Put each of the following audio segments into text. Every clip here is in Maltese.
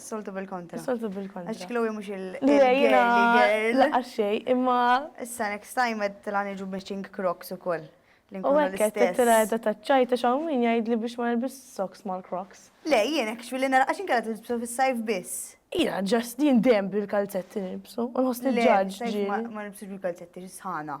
Soltu bil-kontra. Soltu bil-kontra. Għax Chloe mux il-girl. Laqqa xej, imma. Issa next time għed tila nġu matching crocs u koll. U għekket, tila għedda taċċajta xaw min jgħid li biex ma nilbis socks mal crocs. Le, jien actually nara għaxin kalla tilbsu fil-sajf biss. Ija, ġast jien dem bil-kalzetti nilbsu. Unħos nil-ġaġ. Ma nilbsu bil-kalzetti, ġisħana.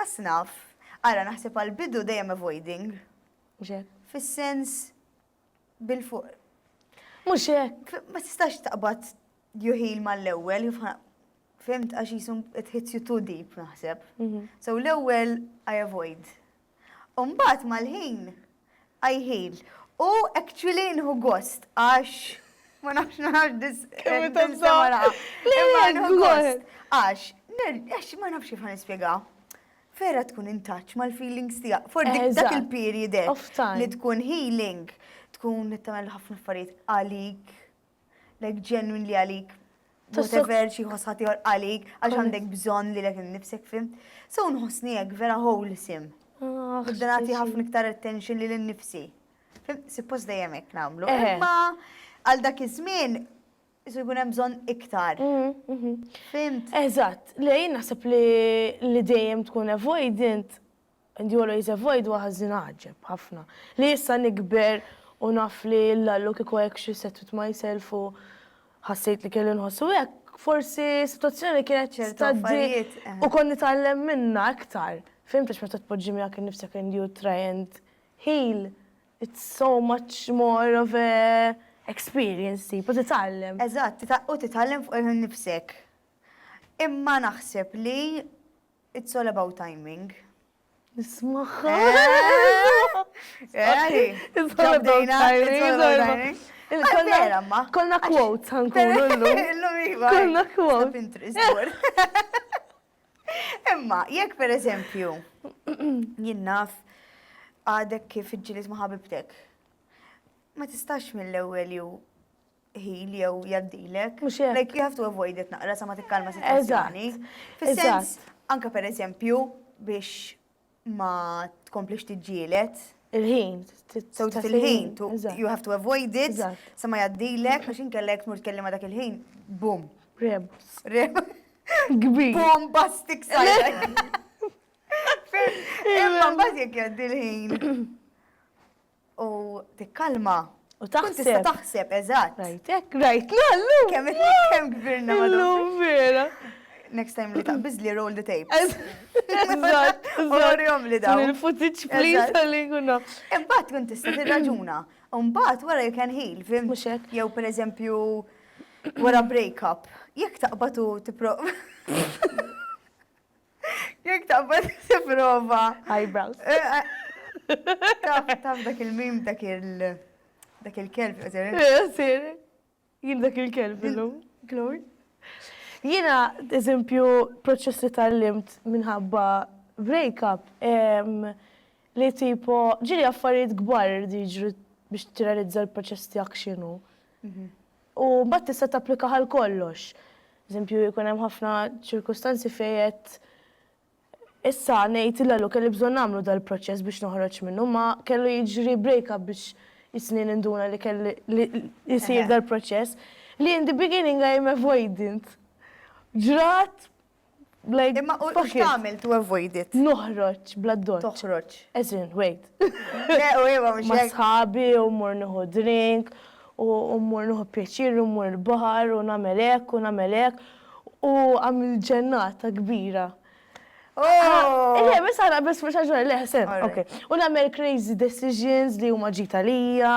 As naf. Ara naħseb għal bidu dejjem avoiding. Mhux hekk. Fis-sens bil fuq. Mhux hekk. Ma tistax taqbad you heal mal-ewwel, fimt għax jisum it hits you too deep naħseb. Mhm. So l-ewwel I avoid. U mbagħad mal-ħin I heal. U actually nieħu gost għax ma nafx nagħmel dis. Kemm tansab. Le, le, nieħu gost. Għax, għax ma nafx kif nispjegaw. Vera tkun in touch mal-feelings tiegħek. For dak il-period li tkun healing, tkun tagħmel ħafna affarijiet għalik like genuinely għalik, whatever xi ħoss ħaddieħor għalik, għax għandek bżonn li lek innifsek fim. So nħossni hekk vera wholesome. Ah, Nibda nagħti ħafna iktar attention lil innifsi. Fim, suppost dejjem hekk nagħmlu. Eħe. Imma għal dak iż-żmien isu jkun hemm bżonn iktar. Mhm, mhm. Fimt? Eżatt, lej naħseb li li dejjem tkun avoidant And he always avoid wa ħażin għaġeb ħafna li issa nikber u naf li l-Lallu kieku hekk xi set with myself u ħassejt li kelli nħossu hekk forsi sitwazzjoni kienet Ċertu tgħaddi affarijiet, eh. u kont nitgħallem minnha iktar. Fihimt għax meta tpoġġi miegħek innifsek and you try and heal it's so much more of a experience tipu titgħallem. Eżatt, tita- u titgħallem fuqek innifsek. Imma naħseb li It's all about timing. Nismaħħa. Konna quotes ħankunu l-lum. Konna quotes. Imma, jekk per eżempju, jinnaf għadek kif ġilis maħabibtek, ma tistax mill-ewel ju ħil jew jaddilek. Mhux hekk. Like you have to avoid it naqra sa ma tikkalma sitwazzjoni. Fis-sens anke pereżempju biex ma tkomplix tiġġielet. Il-ħin. So il-ħin, you have to avoid it, sa ma jaddilek, għax inkellek mur tkellima dak il-ħin, bum. Rebus. Rebus. Gbir. Bum, bastik sajra. Imma mbagħad jekk jgħaddi l-ħin. U tikkalma. U taħseb. Tkun tista' taħseb, eżatt. Rajtek, rajtna llum. Kemm kemm kbirna madwar. Illum vera. Next time li taqbiż li roll the tape. Eżatt. Orihom li dawn. Il-footage please għalli kuna. Imbagħad tkun tista' tirraġuna. Imbagħad wara you can heal, fim. Mhux hekk. Jew pereżempju wara break up. Jekk taqbad u tipprova. Jek taqbad t-prova. Eyebrows. Eh, eh. Taf dak il-mim dak il- dak il-kelb jgħazir. Jgħazir. Eh, Jien dak il-kelb illum. Glory. Jina, eżempju, proċess li tal-limt minħabba break-up, li tipo, ġiri affarijiet gbar diġri biex t-realizza l-proċess tijak xinu. Mhm. U mbagħad tista' tapplika għal kollox. Eżempju, jkun hemm ħafna ċirkustanzi fejn qed issa ngħid il għalu kelli bżonn nagħmlu dal-proċess biex noħroġ minnu, ma kellu jiġri break-up biex jisni ninduna li kelli li jsir dal-proċess. Li in the beginning I am avoidant. Ġrat Like, Imma u fuck it. x'tagħmel to avoid it? Noħroġ bla doċ. Toħroġ. As in, wait. Le, u iva mhux Ma' hekk. sħabi u mmur nieħu drink u u mmur nieħu pjaċir u mmur il-baħar u nagħmel hekk u nagħmel hekk u għamilt ġennata kbira. Oh! Le, biss aħna biss mhux għax le ħsen. Alright. Okay. U nagħmel crazy decisions li huma ġid għalija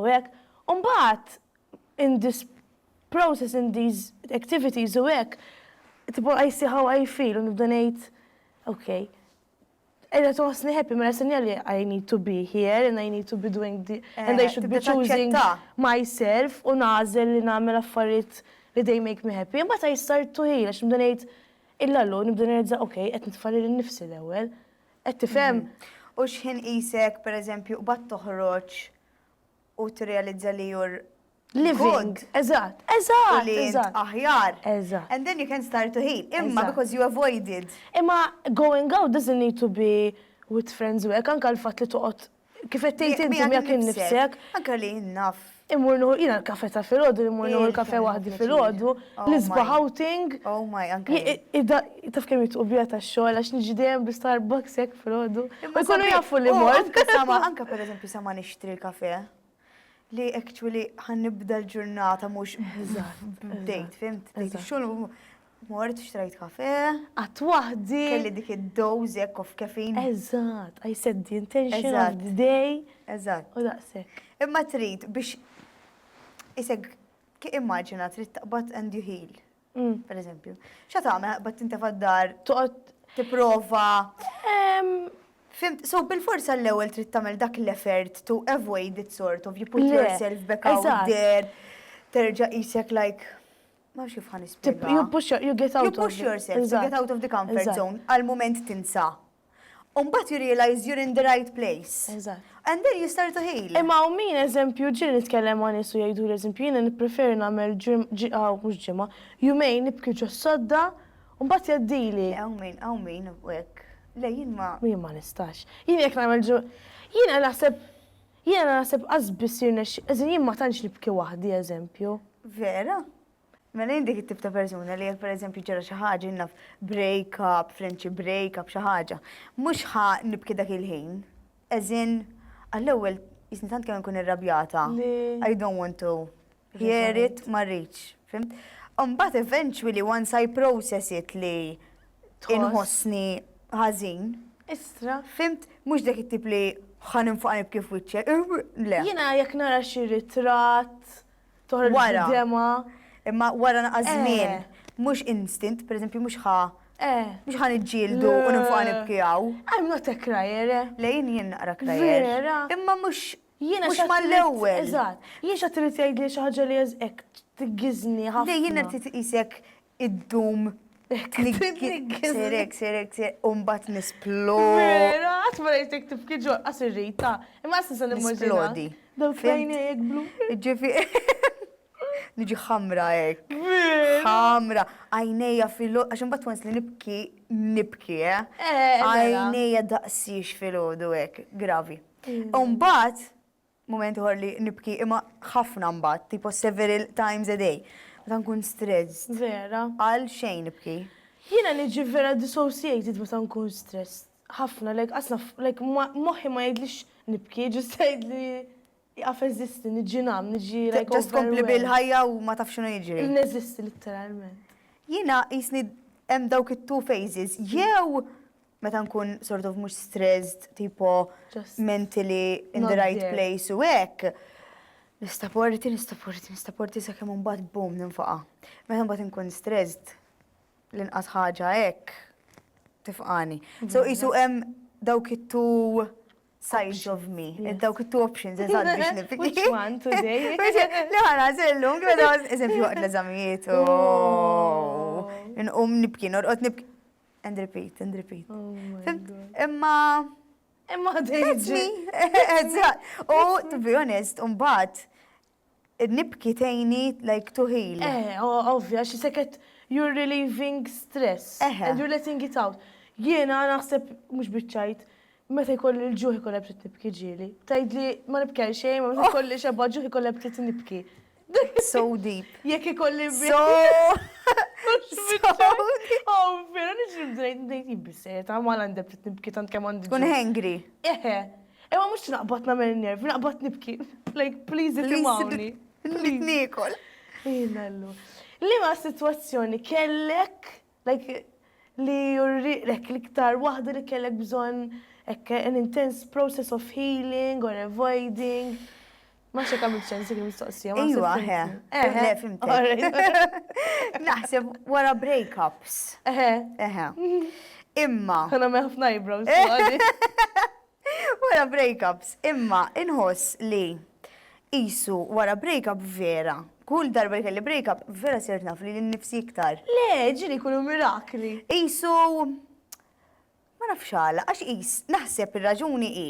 u hekk. U mbagħad in this process in these activities u hekk, tipo I see how I feel u nibda ngħid ok, qiegħda tħossni happy mela sinjali I need to be here and I need to be doing the and I should be choosing myself u nagħżel li nagħmel affarijiet li they make me happy. Imbagħad I start to heal għax nibda ngħid illa llum nibda nirrealizza ok, qed nitfa' lili nnifsi l-ewwel. Qed tifhem? U x'ħin qisek pereżempju qbadt toħroġ u tirrealizza li you're living. Eżatt. Eżatt. U li int aħjar. Eżatt. And then you can start to heal. Imma because you avoided. Imma going out doesn't need to be with friends u hekk, anke l-fatt li toqgħod kif qed tgħid inti miegħek innifsek. Anke li naf. Immur nieħu jiena l-kafè ta' filgħodu, immur nieħu l-kafè waħdi filgħodu, l-isbaħ outing. Oh my, anke. Taf kemm jitqu bija tax-xogħol għax niġi dejjem bi Starbucks hekk filgħodu. U jkunu jafu li mort. Anke pereżempju sa ma nixtri l-kafè. li actually ħan nibda l-ġurnata mhux b'dejt, fimt? Xogħol mort xtrajt kafe. Għat waħdi. Kelli dik id-doz jekk of kefin. Eżatt, I said the intention of the day. Eżatt. U daqsek. Imma trid biex isek immaġina trid taqbad and you heal. Per eżempju, xa tagħmel bat tintefa' d-dar, toqgħod tipprova. Fimt, so bil-forsa l-ewwel trid tagħmel dak l-effort to avoid it sort of you put yourself back out there, terġa' qisek like ma nafx kif ħa nispjega. You push yourself, you get out of the comfort zone, għal mument tinsa U mbagħad you realise you're in the right place. Eżatt. And then you start to heal. Imma hawn min, eżempju, ġieli nitkellem ma' nies u jgħiduli, eżempju, jiena nippreferi nagħmel ġimgħa, mhux ġimgħa, jumejn nibki ġos-sodda u mbagħad jgħaddili. Le hawn min, hawn min u hekk. Le jien ma. Jien ma nistax. Jien jekk nagħmel ġu, jiena naħseb, jiena naħseb qas biss jirnexxi, as in jien ma tantx nibki waħdi, eżempju. Vera? Mela jien dik it-tip ta' persuna li jekk pereżempju ġara xi ħaġa naf break up, friendship break up xi ħaġa, mhux ħa nibki dak il-ħin. As in, għall-ewwel jisni tant kemm nkun irrabjata. I don't want to hear it, ma rridx. Fimt? Mbagħad eventually once I process it li inħossni ħażin. Istra. Fimt? Mhux dak it-tip li ħan infaq nibki f'wiċċek. Le. Jiena jekk nara xi ritratt Toħroġ bid-dema. Imma wara naqas żmien. Mhux instant, pereżempju mhux ħa. Mhux ħa niġġieldu u ninfoqa' nibki hawn. I am not a crier. Le jien jien naqra crier. Vera? Imma mhux mhux mal-ewwel. Eżatt. Jien x'għad trid tgħidli xi ħaġa li hekk tghiżżni ħafna. Le jien irrid iqisek iddum Sirek, sirek, sirek, umbat nisplodi. Vera, għat ma rejtek tifki ġol qas irrita. Imma għas nisa nisplodi. Daw fejn jek blu. Ġifi. Nġi ħamra ek. ħamra. Għajneja filo, għaxin bat wens li nibki, nibki, eh? eh Għajneja daqsix filo du ek. Gravi. Mm. Umbat, Mument ieħor li nibki imma ħafna mbagħad, tipo several times a day. Meta nkun stressed. Vera. Għal xejn nibki. Jiena niġi vera dissociated meta nkun stressed. Ħafna, like qas naf, like moħħi ma jgħidlix nibki, just jgħidli iqaf eżisti, niġi ngħam, niġi like overwhelmed. Just tkompli bil-ħajja u ma tafx x'inhu jiġri. Neżisti litteralment. Jiena qisni hemm dawk it-two phases, jew meta nkun sort of mhux stressed, tipo mentally in the right place u hekk, nista' porti, nista' porti, nista' porti sakemm imbagħad boom ninfaqa'. Meta mbagħad inkun stressed, l-inqas ħaġa hekk tifqani. So qisu hemm dawk it-two sides of me, dawk it-two options, eżatt biex nifiki. Which one today? Li ħana zillum, għedha, eżempju, għad l-eżamijiet, oh. nqum nibki, norqot nibki. And repeat, and repeat. Oh imma. Imma dejġi. U to be honest, umbat, nibki tejni like to heal. Eh, ovvja, xi seket you're relieving stress. And you're letting it out. Jiena naħseb mhux biċċajt Meta jkolli l-ġuħ ikollha b'tit nibki ġieli. Tgħidli ma nibki għal xejn, imma meta jkolli xebgħa ġuħ ikollha b'tit nibki. So deep. Jekk ikolli So deep. Oh, vera niġri bdejt ngħid hi bis-serjetà ta' mal għandha b'tit nibki tant kemm għandi. Tkun hangry. Eħe. Imma mhux naqbad nagħmel in-nervi, naqbad nibki. Like please itimgħuni. Please. Nrid niekol. Ejn Allu. Liema sitwazzjoni kellek Dak li jurrieqlek l-iktar waħda li kellek bżonn hekk an intense process of healing or avoiding. Ma nafx jekk għamilt sens dik il-mistoqsija. Ejwa, he, eħe, fimtek. Naħseb wara breakups. Eħe. Eħe. Imma. Għana meħfna jibrow. Wara break-ups, imma inħoss li qisu wara break-up vera. Kull darba li kelli break-up, vera sirt naf lili nnifsi iktar. Le, ġieli jkunu mirakli! Qisu ma nafx għala, għax qis, naħseb ir-raġuni hi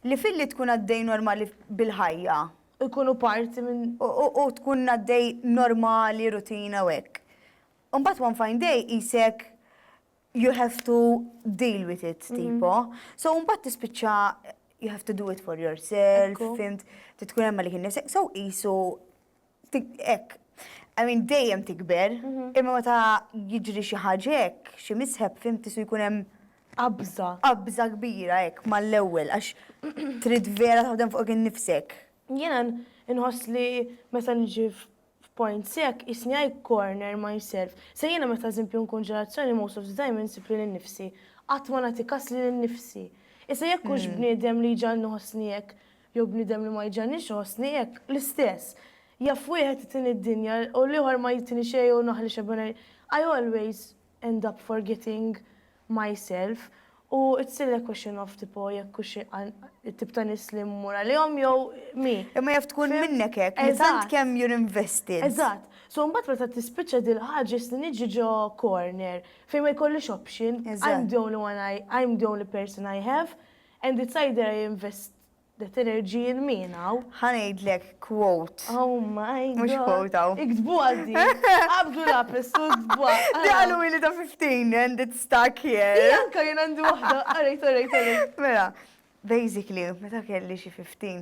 li filli tkun għaddej normali bil-ħajja, u jkunu parti minn, u tkun għaddej normali, rutina u hekk, imbagħad one fine day qisek you have to deal with it tipo. So mbagħad tispiċċa you have to do it for yourself, fimt, titkun hemm li kien nifsek, so qisu hekk. I mean dejjem tikber, mhm. imma meta jiġri xi ħaġa hekk, xi misheb fimt tisu jkun hemm qabża. Qabża kbira hekk mal-ewwel għax trid vera taħdem fuq kien nifsek. Jiena nħoss li meta nġi f'point sekk qisni I corner myself. Se jiena meta eżempju nkun ġelazzjoni most of the time insib lili nnifsi. Qatt ma nagħti kas lili nnifsi. Issa jekk hux bniedem li jġagħalni iħossni hekk jew bniedem li ma jġagħlnix iħossni hekk, l-istess. Jaf wieħed itini d-dinja u l-ieħor ma jtini xejn jew naħli xebgħen I always end up forgetting myself u it's still a question of tipo jekk hux it-tip ta' nies li mmur għalihom jew mi. Imma jaf tkun minnek hekk li tant kemm you're invested. Eżatt. So mbagħad meta tispiċċa dil-ħaġa jistni niġi ġo corner fejn ma jkollix option, I'm the only one I, I'm the only person I have and it's either I invest Dat energy in me now. Ħa ngħidlek quote. Oh my god. Mhux quote hawn. Iktbuha di. Qabdu lapis u ktbuha. Di qalu ili ta' 15 and it's stuck here. Anka jien għandi waħda. Alright, alright, alright. Mela, basically, meta kelli xi 15,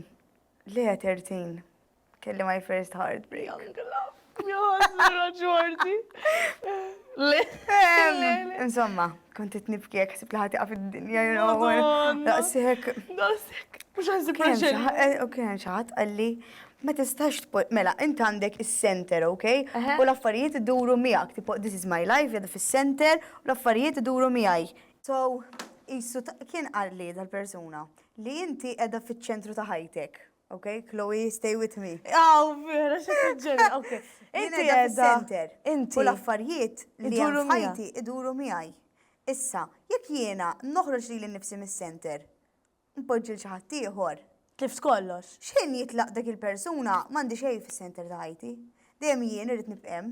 le 13, Kelli my first heartbreak. Young love. Jozra ġordi. Insomma, kontet nibki jek sib laħati għaf id-dinja, you know. Daqsek. Daqsek. Mux għazzi praġen. Eh, u kien xaħat għalli, ma tistax tpol, mela, int għandek il-center, ok? U l-affarijiet id-duru miegħek, tipo, this is my life, jadu fil-center, u l-affarijiet id-duru miegħi. So, jissu kien għalli dal-persuna li inti edha fil-ċentru ta' ħajtek. Ok, Chloe, stay with me. Aw, vera, xi ġenna, ok. Inti għedha. Inti. U l-affarijiet li jiduru ħajti iduru miegħi. Issa, jekk jiena noħroġ li l-nifsi mis-center, npoġġi l-xi ħadd ieħor. Tlift kollox. X'ħin jitlaq dak il-persuna m'għandi xejn fis-center ta' ħajti. Dejjem jien irrid nibqem.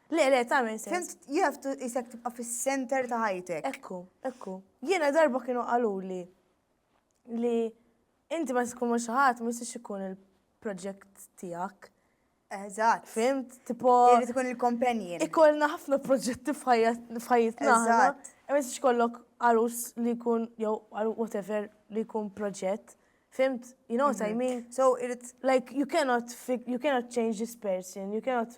Le, le, tagħmel sens. Fimt, you have to isek tibqa' fis-center ta' ħajtek. Ekku, ekku. Jiena darba kienu qaluli li inti ma tkun ma xi ħadd ma jistax ikun il-proġett tiegħek. Eżatt. Fimt, tipo. Irid ikun il-companion. Ikollna ħafna proġetti f'ħajjitna. Eżatt. Ma jistax kollok għarus li jkun jew whatever li jkun proġett. Fimt, you know what I mhm. mean? So, irid. Like, you cannot, you cannot change this person, you cannot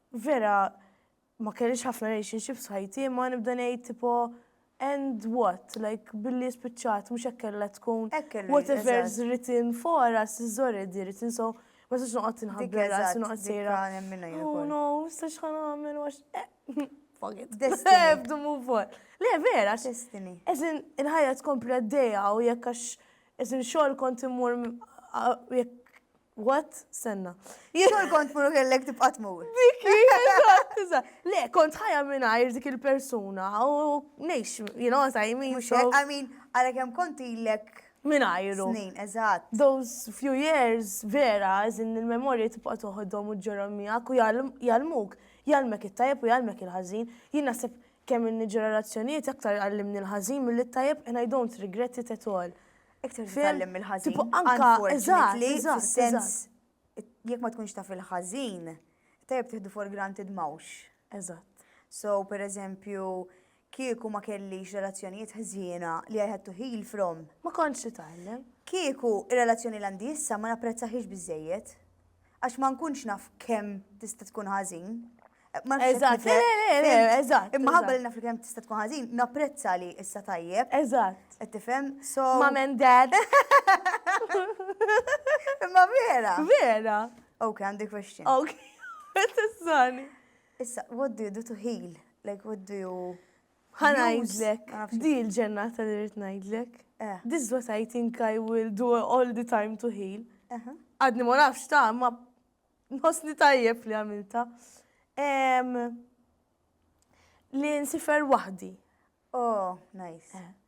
Vera ma kellix ħafna relationships f'ħajti imma nibda ngħid tipo and what? Like billi spiċċat mhux hekk kellha tkun. Hekk kellu jkun. Whatever's written for us is already written so ma sax noqgħod inħabbi rasi noqgħod sejra. Oh no, sax ħan għamil għax. Eh, fuck it. Have to move on. Le vera. Destiny. Eżin il-ħajja tkompli għaddejja u jekk għax eżin xogħol kont immur jekk What? Senna. Xogħol kont mur kellek tibqa' tmur. Dik hi, Le, kont ħajja mingħajr dik il-persuna u ngħix, you know, I mean. I mean, għalhekk hemm kont ilek minajru. Snin, eżatt. Those few years, vera, għazin il-memorja tibqa toħodhom u ġorom miegħek u jalmuk, jalmek it-tajjeb u jalmek il-ħażin. Jien naħseb kemm inni ġenerazzjonijiet aktar għallimni l-ħażin mill-tajjeb and I don't regret it at all. Iktar titgħallem mill-ħażin. Unfortunately, fis-sens jekk ma tkunx taf il-ħażin, tajjeb tieħdu for granted mawx. Eżatt. So, per eżempju, kieku ma kellix relazzjonijiet ħżiena li I had to heal from. Ma kontx titgħallem. Kieku relazzjoni l-għandi issa ma napprezzaħiex biżejjed. għax ma nkunx naf kemm tista' tkun ħażin. Eżatt, le, le, le, eżatt. Imma ħabba li naf li kemm tista' tkun ħażin, napprezza li issa tajjeb. Eżatt. Qed tifhem? So. Mom and dad. Imma vera. Vera. Ok, għandi question. Ok. Tissani. Issa, what do you do to heal? Like, what do you... Ħa ngħidlek, di l-ġennata li rrid ngħidlek. Eh. This is what I think I will do all the time to heal. Għadni ma nafx ta' ma nħossni tajjeb li għamilta. Li nsifer waħdi. Oh, nice. Eh.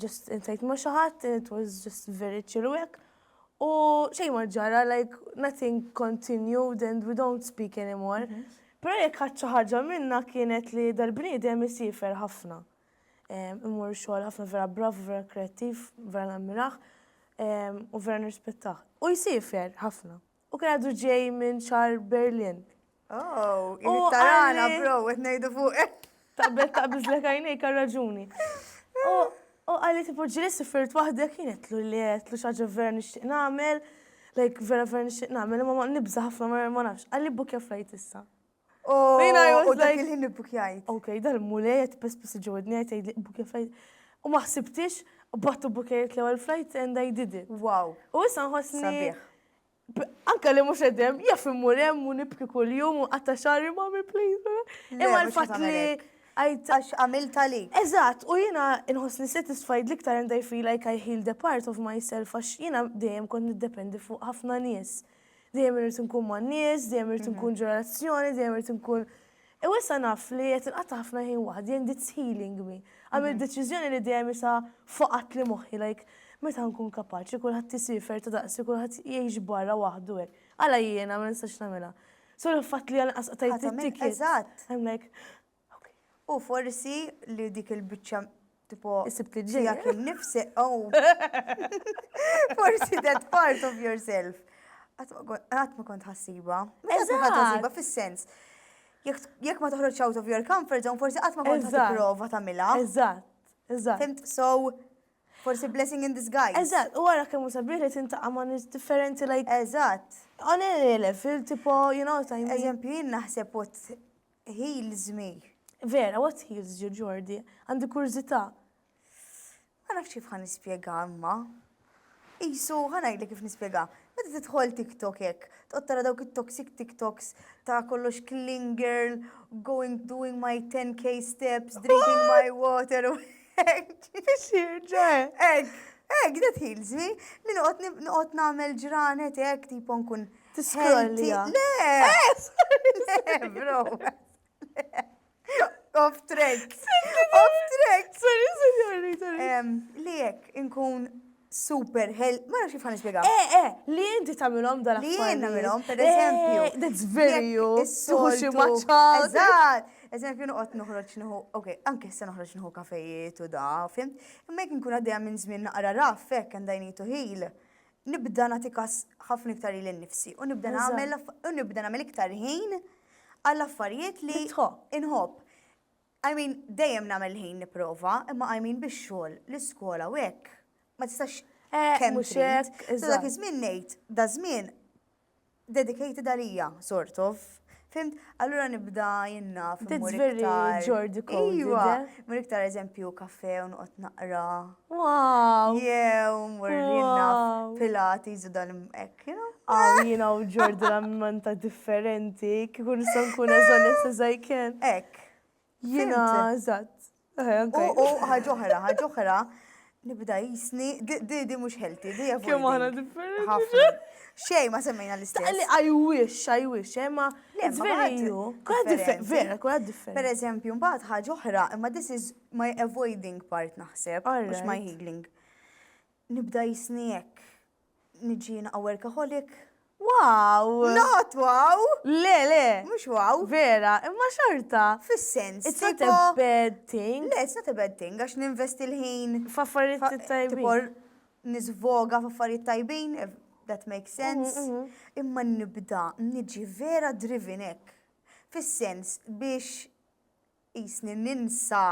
just insejt ma xaħat, it was just very chill wek. U xej ma ġara, like nothing continued and we don't speak anymore. Mhm. Pero jek ħadċa ħaġa minna kienet li dal-bniedem jisifer ħafna. Imur xogħol ħafna vera brav, vera kreativ, vera nammiraħ, u vera nirrispettaħ. U jisifer ħafna. U kien għadu ġej minn xar Berlin. Oh, jien tarana, bro, għet nejdu fuq. Tabbet ta' bizlek għajnej kar raġuni. U għalli tipo ġili sifirt wahdek kienet lu li għet lu xaġa vera nixtieq namel, like vera vera nixtieq namel, ma nibza ħafna ma nafx, għalli bukja flajt issa. U dak il-ħin ibbukjajt. Ok, dal mulej qed pes pes ġewwa dni qed jgħidli ibbukja flajt. U ma ħsibtix, qbadt u bukejt l-ewwel flajt and I did it. Wow. U issa nħossni. Sabiħ. Anka li mhux qed hemm, jaf immur hemm u nibki kuljum u nqatta' xagħri mommy please. Imma l-fatt li Għax għamilt għalik. Eżatt, u jiena nħossni satisfied l-iktar and I feel like I healed a part of myself għax jiena dejjem kont niddependi fuq ħafna nies. Dejjem irrid nkun man-nies, dejjem irrid nkun mhm. ġurazzjoni, dejjem irrid nkun. U issa naf li qed inqata' ħafna ħin waħdi and it's healing me. Għamil mhm. deċiżjoni li dejjem isa foqat li moħħi like meta nkun kapaċi kulħadd isifer ta' daqsi kulħadd jgħix barra waħdu hekk. Għala jiena ma nistax nagħmilha. So l-fatt li għal qasqtajt it-ticket. Eżatt. I'm like, U forsi li dik il-biċċa tipo Sibt li ġejja. tiegħek innifsek, oh. Forsi that part of yourself. Qatt ma kon- Qatt ma kont ħassiba. Mhux qatt ma kont Eżatt. ħassiba fis-sens. Jekk jekk ma toħroġx out of your comfort zone, forsi qatt ma kont Eżatt. tipprova tagħmilha. Eżatt, eżatt. Fimt? So, forsi blessing in disguise. Eżatt, u wara kemm hu sabiħ li tintaqa' ma' nies differenti like Eżatt. on a level tipo, you know what I mean? Eżempju, jien naħseb what Heels me. Vera, what heals you, Jordi? Għandi kurżità. Ma nafx kif ħa nispjegha imma. Qisu, ħa ngħidlek kif nispjegha. Meta tidħol TikTok hekk, toqgħod tara dawk it-toxic TikToks ta' kollox clean girl, going doing my 10k steps, drinking my water u hekk. Biex jirġa' hekk. Hekk, that heals me. Li noqgħod nagħmel ġranet hekk tipo nkun Tiskrolja. Le! Eh, bro. Off track. Off track. Sorry, sorry, sorry. Li jek, inkun super hell, ma nafx kif ħan nispjega. Eh, eh, li inti tagħmilhom dal Li jien nagħmilhom, per eh, eżempju. That's very you. Suħu xi maċċa. Eżatt. Eżempju, noqgħod noħroġ nħu, ok, anke se noħroġ nħu kafejiet u da, fim. Imma jekk nkun għaddejja minn żmien naqra raf, hekk għandajni tuħil. nibda nagħti kas ħafna iktar lil nnifsi u nibda nagħmel u nibda nagħmel iktar ħin għall affarijiet li inħobb. I mean, dejjem nagħmel ħin nipprova, imma I mean bix-xogħol, l-iskola u hekk. Ma tistax eh, kemm xek. Dak iż-żmien ngħid, da żmien Dedicated għalija, sort of. Fhimt? Allura nibda jien naf. That's immur very iktar- Jordi code, Iva, isn't it? mur iktar eżempju kafe u noqgħod naqra. Wow! Jew mur jien naf Wow! Pilates u dan hekk, you know? Aw, jiena u Jordi l-ammanta differenti, kieku nista' nkun as honest as I can. Hekk. Jiena eżatt. U ħaġoħra, ħaġoħra, nibda jisni, di di mhux healthy, di avoiding. Kemm aħna differenti. Xej, ma semmejna l-istess. Għalli, I wish, I wish, eh, ma. Le, veru. Kura differenti. Vera, kura differenti. Per eżempju, mbagħad ħaġa oħra, imma this is my avoiding part naħseb, mhux my healing. Nibda jisni hekk. Niġi jina workaholic. Wow! Not wow! Le, le! Mux wow! Vera, imma xorta! Fis-sens. It's not a bad thing. Le, it's not a bad thing, għax ninvesti l-ħin. F'affarijiet tajbin. Tipor nizvoga f'affarijiet tajbin, that makes sense. Mhm, mhm. Imma nibda, niġi vera drivinek. Fis-sens biex qisni ninsa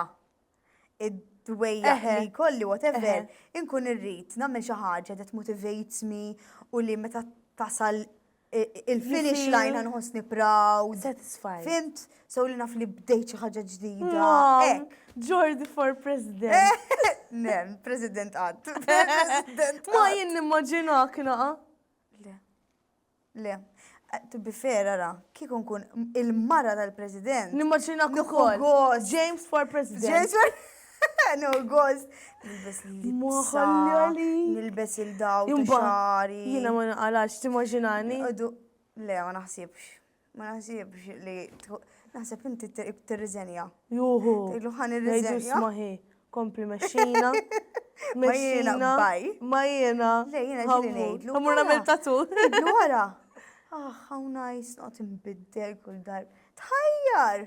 id-dwejjaq li jkolli whatever, inkun irrid nagħmel xi ħaġa that motivates me u li meta tasal il-finish line nħossni proud. Satisfied. Fimt? So li naf li bdejt xi ħaġa ġdida. Jordi for president. Nem, president għad. Ma jien nimmaġinak naqa. Le. To be fair, ara, kieku nkun il-mara tal-President. Nimmaġinak ukoll. James for President. James for No gost. Nilbes li libsa. Nilbes il-daw ta' xari. Jina ma naqalax, timmaġinani. Le, ma naħsibx. Ma naħsibx li naħseb inti tirriżenja. Juhu. Ilu ħan irriżenja. Maħi, kompli meċċina. Ma jiena baj. Ma jiena. Le jiena ġili ngħidlu. Amur nagħmel tatu. Ngħidlu wara. Ah, how nice, not imbiddel kull dar. Tħajjar!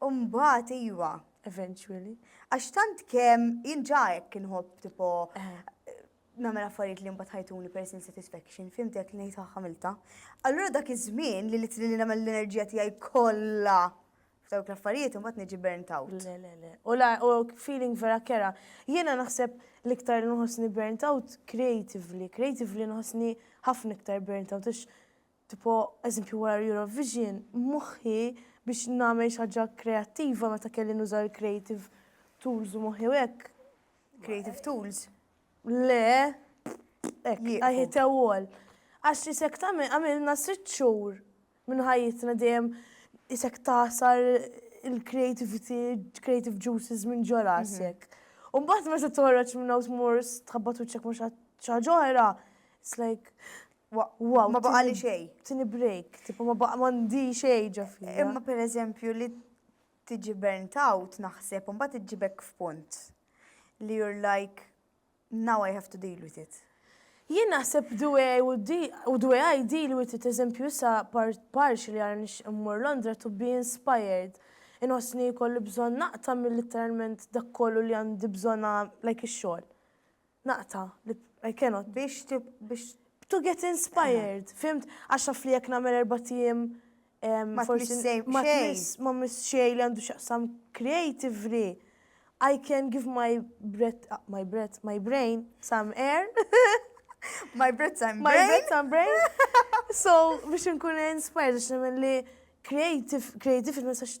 U mbagħad iva. Eventually. Għax tant kemm jien ġa hekk inħobb tipo nagħmel affarijiet li mbagħad ħajtuni personal satisfaction, fimtek li ngħid ħamilta. Allura dak iż-żmien li litri li nagħmel l-enerġija tiegħi kollha f'dawk l-affarijiet u mbagħad niġi burnt out. Le, le, le. U la, u feeling vera kera. Jiena naħseb l-iktar nħossni burnt out creatively. Creatively nħossni ħafna iktar burnt out. Tipo, eżempju wara l-Eurovision, moħħi biex nagħmel xi ħaġa kreattiva meta kelli nuża l-creative tools u moħħi u hekk. Creative tools. Le, hekk, I hit a wall. Għax isek tagħmel għamilna sitt xhur minn ħajjitna dejjem isek tasar il-creativity, creative juices minn ġo rasek. U mbagħad meta toħroġ minn hawn tmur tħabbat wiċċek ma' xi ħaġa oħra, it's like Wow, ma baqa li xej. Tini break, tipo ma baqa mandi xej ġafi. Imma per eżempju li tiġi burnt out naħseb, un bat iġibek f'punt li you're like, now I have to deal with it. Jien naħseb the way I would deal, u the way I deal with it, eżempju sa parċi li għara nix immur Londra to be inspired. Inħosni kolli bżon naqta mill-literalment dak kollu li għandi bżona like ix-xogħol. naqta' li I cannot. Biex biex to get inspired, fimt? Għax naf li jekk nagħmel erba' tim ma tmiss xejn. Ma tmiss xejn li għandu x'jaqsam creatively. I can give my breath, my breath, my brain some air. my breath some brain. My breath some brain. So biex nkun inspired għax nagħmel li creative, creative ma sax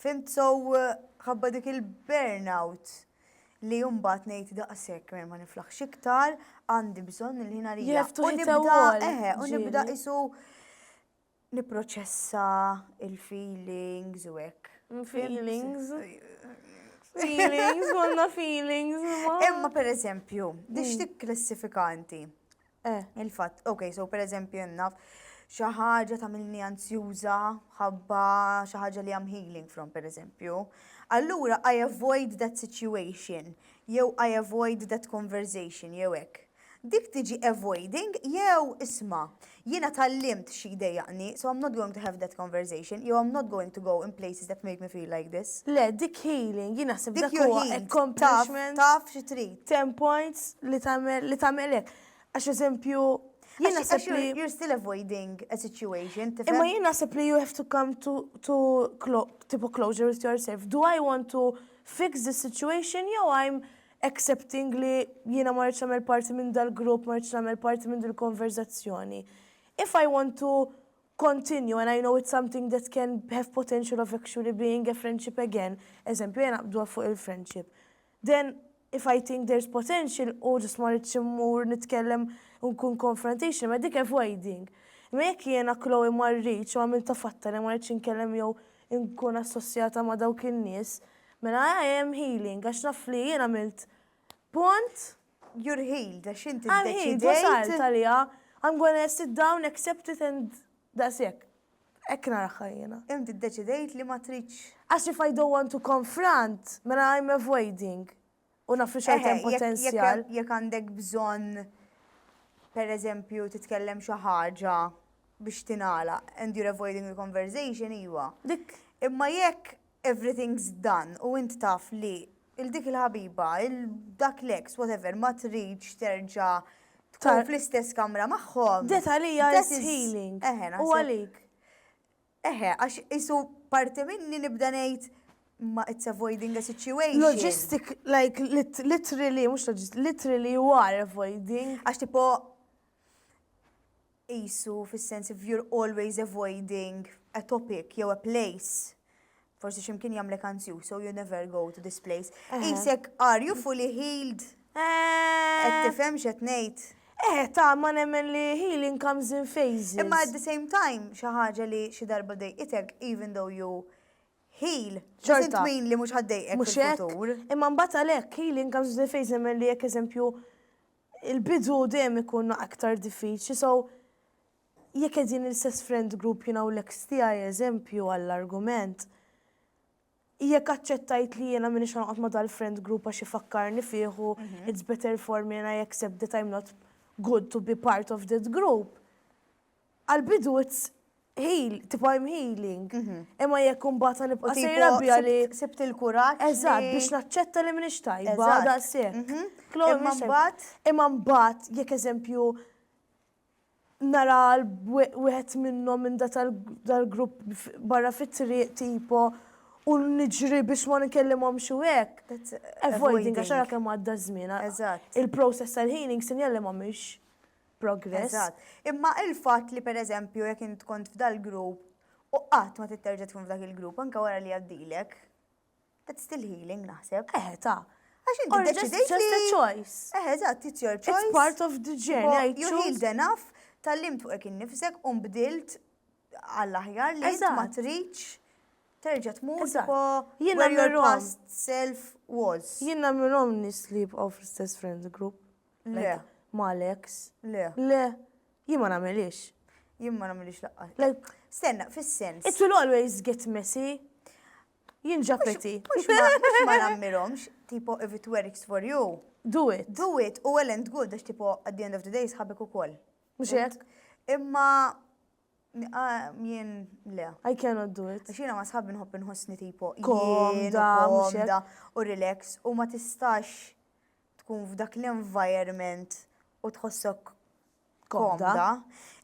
Fhimt sew ħabba dik il-burnout li mbagħad ngħid daqshekk mer ma niflaħx iktar, għandi bżonn il-ħin għalija. You have to hit a wall. Eħe, u nibda isu niproċessa il-feelings u hekk. Feelings. Feelings, għanna feelings. Imma per eżempju, dix mm. tikklassifikanti. Eh. Il-fatt, ok, so per eżempju hemm naf xi ħaġa tagħmilni anzjuża ħabba xi ħaġa li I'm healing from per eżempju. Allura I avoid that situation jew I avoid that conversation jew hekk. Dik tiġi avoiding jew isma' jiena tallimt xi jdejjaqni, so I'm not going to have that conversation jew I'm not going to go in places that make me feel like this. Le, dik healing, jiena naħseb dik huwa accomplishment. Taf xi trid. 10 points li tagħmel li tagħmel hekk. Għax eżempju, jien naħseb li you're still avoiding a situation. Imma jien naħseb li you have to come to, to clo tipo closure with yourself. Do I want to fix the situation jew I'm accepting li jiena ma rridx nagħmel parti minn dal-grupp, ma rridx nagħmel parti minn dil-konverzazzjoni. If I want to continue and I know it's something that can have potential of actually being a friendship again, eżempju jena bdwa fuq il-friendship. Then if I think there's potential u just ma rridx immur nitkellem u nkun confrontational ma dik avoiding. Imma jekk jiena Chloe ma rridx u għamiltha fatta li ma rridx inkellem jew inkun assossjata ma' dawk in-nies, mela I am healing għax naf li jien għamilt punt You're healed, għax inti I'm healed, wasalt għalija. I'm gonna sit down, accept it and daqshekk. Hekk naraħħa jiena. Inti ddeċidejt li ma tridx. Għax if I don't want to confront, mela I'm avoiding. U naf li xorta potenzjal. Jekk għandek bżonn per eżempju titkellem xi ħaġa biex tingħala and you're avoiding the conversation iwa. Dik. Imma jekk everything's done u int taf li 'l dik il-ħabiba, 'l dak l-ex, whatever, ma tridx terġa' tkun fl-istess kamra magħhom. Ġiet għalija this is healing. U għalik? Eħe, għax qisu parti minni nibda ngħid ma it's avoiding a situation. Logistic, like literally, mhux logistic, literally you are avoiding. Għax tipo qisu fis-sens if you're always avoiding a topic jew a place, forsi xi mkien jagħmlek anzjuż so you never go to this place. Qisek are you fully healed? Qed tifhem x'qed ngħid? Eh, ta' ma nemmen li healing comes in phases. Imma at the same time, xi ħaġa li xi darba dejqitek even though you heal, doesn't mean li mhux ħaddejqek fil-futur. Imma mbagħad għalhekk healing comes in phases nemmen li jekk eżempju Il-bidu dejjem ikun aktar diffiċli so jekk qegħdin l-istess friend group jiena u l-ex tiegħi eżempju għall-argument, jekk aċċettajt li jiena m'iniex ħa noqgħod ma' dal-friend group għax ifakkarni fih u it's better for me and I accept that I'm not good to be part of that group, Għall-bidu it's heal, tipo I'm healing. Imma jekk imbagħad għan nibqa' sejra biha li. Sibt il-kuraġġ. Eżatt, biex naċċetta li m'iniex tajba daqshekk. Imma mbagħad. Imma mbagħad jekk eżempju nara wieħed minnhom minn da tal-grupp barra fit-triq tipo u niġri biex ma nkellimhomx u hekk. Avoiding għax ara kemm għadda ż-żmien. Eżatt. Il-process tal-healing sinjal li ma mhix. progress. Eżatt. Imma il-fatt li pereżempju jekk int kont f'dal-grupp u qatt ma titterġa' tkun f'dak il-grupp anke wara li għaddilek, that's still healing naħseb. Eħe, ta. Għax inti Or just, deċidejt just a li. choice. Eħe, eżatt, it's your It's choice. part of the journey. I You choose. healed enough, tallimt fuqek innifsek u nbdilt għall-aħjar li int ma Eżatt. tridx terġa' tmur Eżatt. tipo Jiena where your mirom. past self was. Jiena mirom nis li jibqgħu fl-istess friend group. Le. Mal-ex? Le. Le. Jien ma nagħmilhiex. Jien ma nagħmilhiex laqqa. Like, Stenna, fis-sens. it will always get messy. Jien ġapeti. Mhux ma mhux ma nagħmilhomx, tipo if it works for you, Do it. do it u well and good għax tipo at the end of the day sħabek ukoll. Mhux hekk? Imma ah, jien le. I cannot do it. Għax jiena ma sħabi nħobb inħossni tipo jien u Komda, mhux hekk. komda u relax u ma tistax tkun f'dak l-environment u tħossok komda,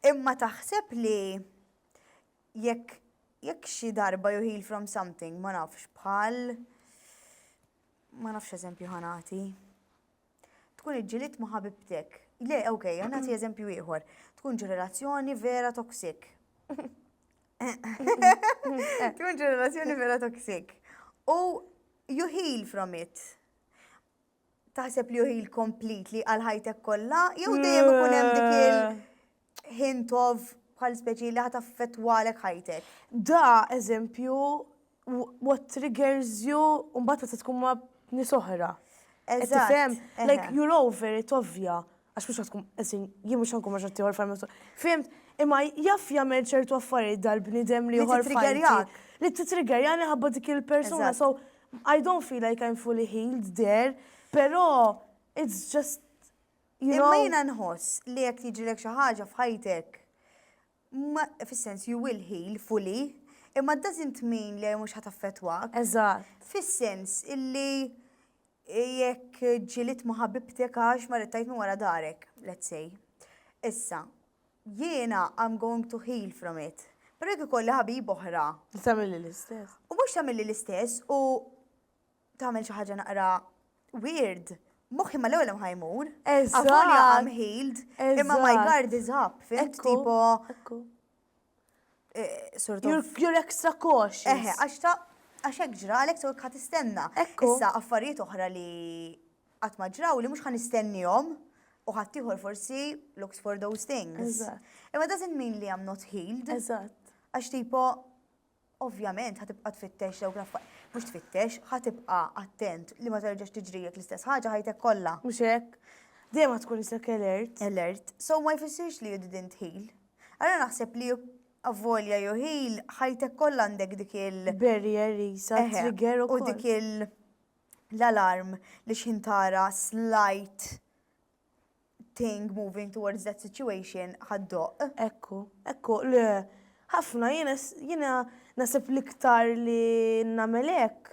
imma taħseb li jekk jekk xi darba you heal from something, ma nafx bħal ma nafx eżempju ħanati. Tkun iġġilit ma' ħabibtek. Le, ok, ħanati eżempju ieħor. Tkun ġi relazzjoni vera toksik. Tkun ġi relazzjoni vera toksik. U you heal from it. Taħseb li juhi l-completely għal ħajtek kollha jew dejjem ikun hemm dik il-hint of bħal speċi li ħata fetwalek ħajtek. Da, eżempju, what triggers you, un-bat ta' tkun ma' nisohra. Eżatt. Like, you're over it, ovvja. Għax mhux tkun esin, jien mhux nkun ma' xatt ieħor fajn miftuħ. Fimt? Imma jaf jagħmel ċertu affarijiet dal-bniedem li ieħor fajn. Li titrigerjani ħabba dik il-persuna. So I don't feel like I'm fully healed there, però it's just Imma jiena nħoss li jekk jiġilek xi ħaġa f'ħajtek Ma, fis-sens, you will heal fully, imma doesn't mean li mhux ħat affettwak. Eżatt. Fis-sens illi jekk ġiliet ma' ħabibtek għax marret tgħid minn wara darek, let's say. Issa, jiena I'm going to heal from it. Però jekk ikolli ħabiba oħra. Li tagħmilli l-istess. U mhux tagħmilli l-istess u tagħmel xi ħaġa naqra weird, moħħi ma l-ewwel ħaj mur. Avolja I'm healed, imma my guard is up, fimt tipo. Eh, sort of. You're extra cautious. Eħe, għax ta' għax hekk ġralek sew ħadd istenna. Issa affarijiet oħra li qatt ma ġraw li mhux ħan istennihom u ħadd ieħor forsi looks for those things. Imma doesn't mean li I'm not healed. Eżatt. Għax tipo Ovvjament ħa tibqa' tfittex dawk l-affa mhux tfittex, ħa tibqa' attent li ma terġax tiġrilek l-istess ħaġa ħajtek kollha. Mhux hekk? Dejjem ħa tkun isek alert. Alert. So ma jfissirx li you didn't heal. Ara naħseb li avolja you heal, ħajtek kollha għandek dik il. Barrier qisha, trigger ukoll. Eħe, u dik l-alarm li x'ħin tara slight thing moving towards that situation ħaddoq. Ekku, ekku, le, ħafna jiena nasib l-iktar li nagħmel hekk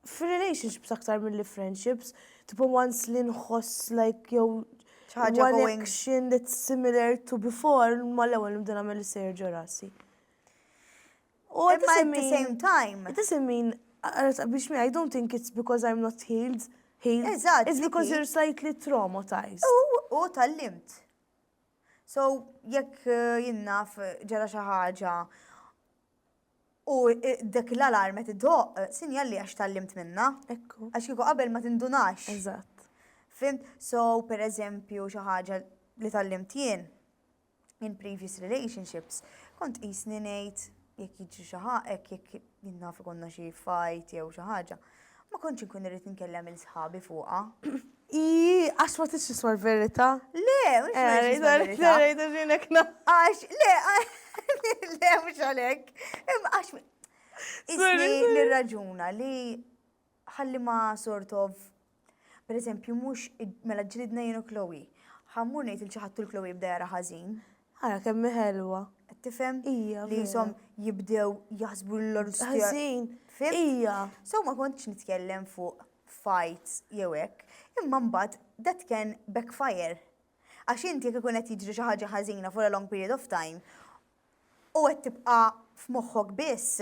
f'relationships aktar milli friendships, tipo once li nħoss like jew one action that's similar to before, ma l-ewwel nibda nagħmel is-sejjer ġo rasi. U at the same time. It doesn't mean, biex me, I don't think it's because I'm not healed, healed. Eżatt. It's because you're slightly traumatized. U tal-limt. So, jekk eh, jinnaf eh, ġara xi ħaġa u eh, dak l-alarm qed idoq, sinjal li għax tal-limt minna. Ekku. Għax kieku qabel ma tindunax. Eżatt. Fim, so per eżempju xi ħaġa li tal-limt jien, in previous relationships kont qisni ngħid jekk jiġri xi ħaqek, jekk jinnaf ikonna xi fajt jew xi ħaġa, ma kontx inkun irrid nkellem il sħabi fuqha. I, għax ma tix tiswa l-verita? Le, mux verita. Għax, le, le, mux għalek. Għax, isni nirraġuna li Ħalli ma sort of, per eżempju, mhux mela ġlidna jien u Chloe. Ħa mmur ngħid lil xi ħadd u l-Chloe jibda jara ħażin. Ara kemm hi ħelwa. Qed tifhem? Hija vera. Li jisom jibdew jaħsbu lil hom stess. Ħażin. Fhimt? Hija. So ma kontx nitkellem fuq fights jew hekk, imma mbagħad that can backfire. Għax inti jekk ikun qed jiġri xi ħaġa ħażina for a long period of time, u qed tibqa' f'moħħok biss,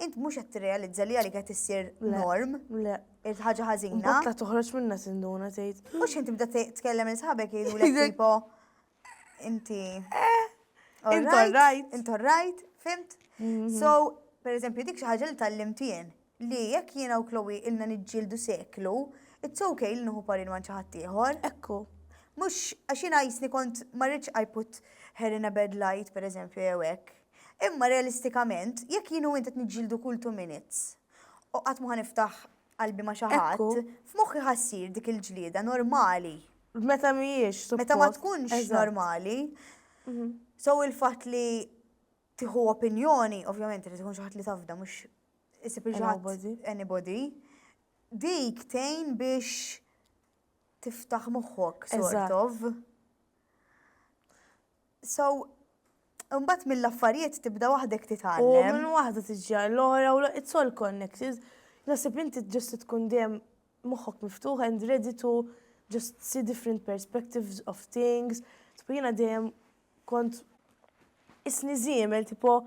int mhux qed tirrealizza li għalik qed issir norm. Le. Irid ħaġa ħażina. Butla toħroġ minna sinduna tgħid. U x'int tibda tkellem il sħabek jgħidulek tipo inti. Eh. Int orrajt. Int orrajt, fimt? Mhm. So, per eżempju, dik xi ħaġa li tallimt jien. li jekk jiena u Chloe ilna niġġieldu seklu, it's ok li nieħu parir ma' xi ħadd ieħor. Ekku. Mhux għax jiena qisni kont ma rridx I put her in a bad light, per eżempju, jew hekk. Imma realistikament, jekk jien u int qed niġġieldu kull two minutes, u qatt mhu ħa niftaħ qalbi ma' xi ħadd, f'moħħi ħa ssir dik il-ġlieda normali. Meta mhijiex suppost. Meta ma tkunx normali. So il-fatt li tieħu opinjoni, ovvjament irid ikun xi ħadd li tafda mhux isib xi ħadd anybody. Dik tgħin biex tiftaħ moħħok sort of. So, Umbat mill-affarijiet tibda waħdek titgħallem. U minn waħda tiġi l-ora u it's all connected. Nasib inti ġust tkun dejjem moħħok miftuħ and ready to just see different perspectives of things. Tbina dejjem kont isni żiemel tipo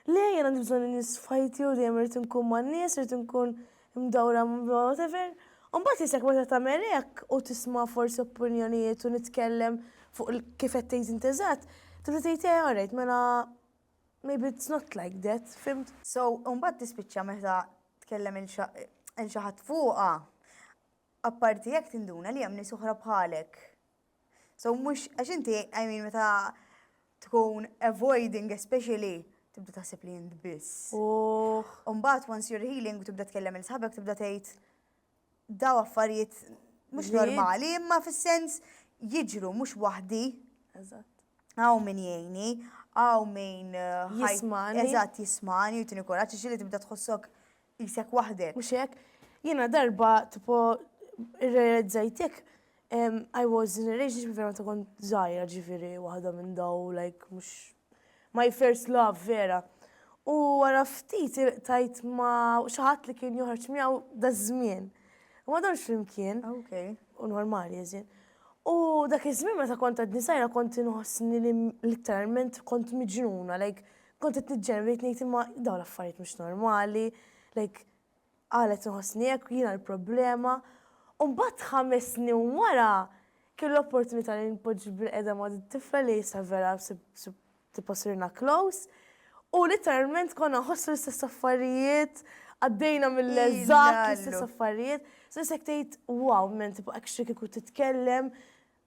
le jien għandi bżonn in-nies f'ħajti u dejjem irid inkun man-nies, irid inkun mdawra whatever. U mbagħad isek meta tagħmel hekk u tisma' forsi opinjonijiet u nitkellem fuq kif qed tgħid int eżatt, tibda tgħid eh alright mela maybe it's not like that, fimt? So, u mbagħad tispiċċa meta tkellem il xi ħadd fuqha, apparti hekk tinduna li hemm nies oħra bħalek So mhux għax inti I mean meta tkun avoiding especially tibda taħseb li jint biss. Umbat once you're healing u tibda tkellem il sħabek tibda tgħid daw affarijiet mhux normali imma fis-sens jiġru mhux waħdi. Eżatt. Għaw min jgħini, għaw min. Eh, jismani. Eżatt jismani u tini kuraċ li tibda tħossok Qisek waħdek, mhux hekk? Jiena darba tipo irrealizzajt jekk I was in a relationship vera meta kont żgħira ġifieri waħda minn daw like mhux my first love vera. U wara ftit ilqtajt ma' xi ħadd li kien joħroġ miegħu daż-żmien. U ma domx flimkien. Okay. U normali as in. U dak iż-żmien meta kont għadni żgħira kont inħossni li literalment kont miġnuna like Kont qed niġġenn bdejt ngħid imma dawn l-affarijiet mhux normali, like qalet inħossni hekk jiena l-problema. U mbagħad ħames snin wara kelli l-opportunità li npoġġi bil-qeda ma' din tifla li issa vera tipo sirna close u letteralment konna nħossu l-istess affarijiet, għaddejna mill-eżatt l-istess affarijiet. So jisek tgħid wow, men tipo hekk xi kieku titkellem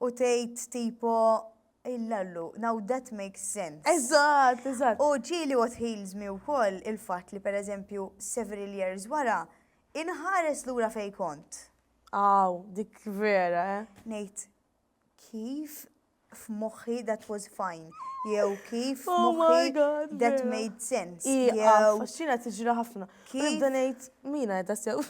u tgħid tipo illallu, now that makes sense. Eżatt, eżatt. U ġieli what heals me wkoll il-fatt li pereżempju several years wara inħares lura fejn kont. Aw, dik vera, eh. Ngħid, kif f'moħħi that was fine, jew kif f'moħħi that made sense, jew. Iva, għax jiena tiġri ħafna. Kif? Nibda ngħid mina qed tassew.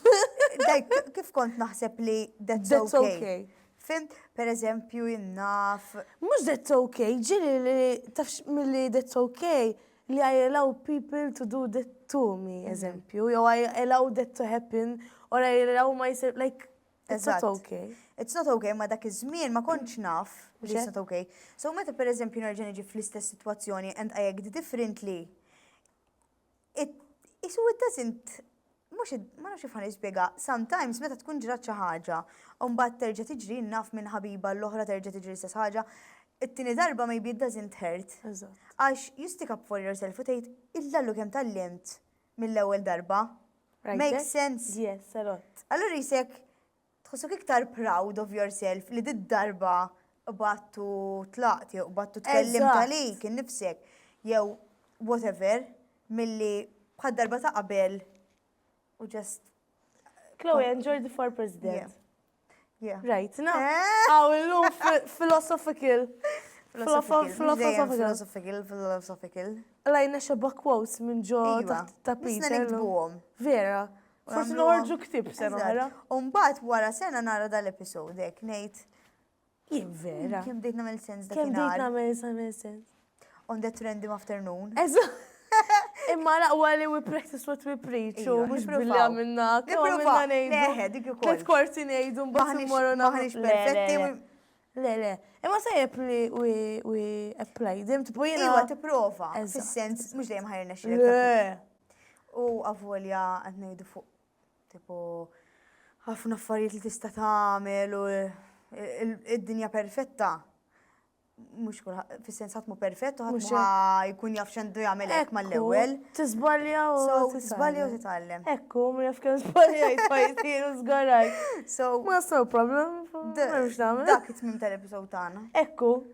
Dajk, kif kont naħseb li that's That's okay. okay. Fimt, per eżempju, jinnaf. Mhux that's okay, ġiri li tafx milli that's okay li I allow people to do that to me, Mhm. eżempju, jew I allow that to happen, or I allow myself, like, it's not Eżatt. okay. It's not okay, ma dak iż-żmien ma kontx naf li it's Ġe. not okay. So meta per eżempju nerġa' niġi fl-istess sitwazzjoni and I act differently, Qisu it doesn't mhux ma nafx kif ħa nispjega, sometimes meta tkun ġrat xi ħaġa u mbagħad terġa' tiġri jien naf minn ħabiba l-oħra terġa' tiġri l-istess ħaġa, it-tieni darba maybe it doesn't hurt. Għax you stick up for yourself u tgħid illa Allu kemm tgħallimt mill-ewwel darba. Makes sense? Yes, a lot. Allura qisek Tħossok iktar proud of yourself li did-darba qbadt u tlaqt jew qbadt u tkellimt Eżatt. għalik innifsek jew whatever milli bħad-darba ta' qabel u just Chloe and Jordi for Yeah. President. yeah. Rajtna. Eh? Hawn illum fi- philosophical. Philosophical, mhux dejjem Philosophical. philosophical, philosophical. Lajna xebba quotes minn ġo Iva, taħt tapit. nisna illum. nikdbuhom. Vera. Forsi noħorġu ktib sena oħra. Umbat wara sena nara dal-episod hekk ngħid. Jien vera. Kemm bdejt nagħmel sens dak Kemm bdejt nagħmel sens. On that random afternoon. Eżatt. Imma laqwa li we practice what we preach, u mux billi għamilna, għamilna nejdu. Leħe, dik ukoll. Tlet korsi nejdu, mbaħni morru naħħiex perfetti. Le, le, imma sajjeb li we apply them, tipu jina. Iwa, tiprofa, fil-sens, mux dejjem ħajrna xie. Le, U avolja qed ngħidu fuq tipo ħafna affarijiet li tista' tagħmel u id-dinja perfetta mux kulħadd, fis-sens ħadd mu perfett u ħadd ma jkun jaf x'għandu jagħmel hekk mal-ewwel. Tiżbalja u So, tiżbalja u titgħallem. Ekku, ma nafx kemm żbaljajt fajti u żgarajt. So, Ma so problem, m'hemmx nagħmel. dak it-tmim tal-episod tagħna. Ekku,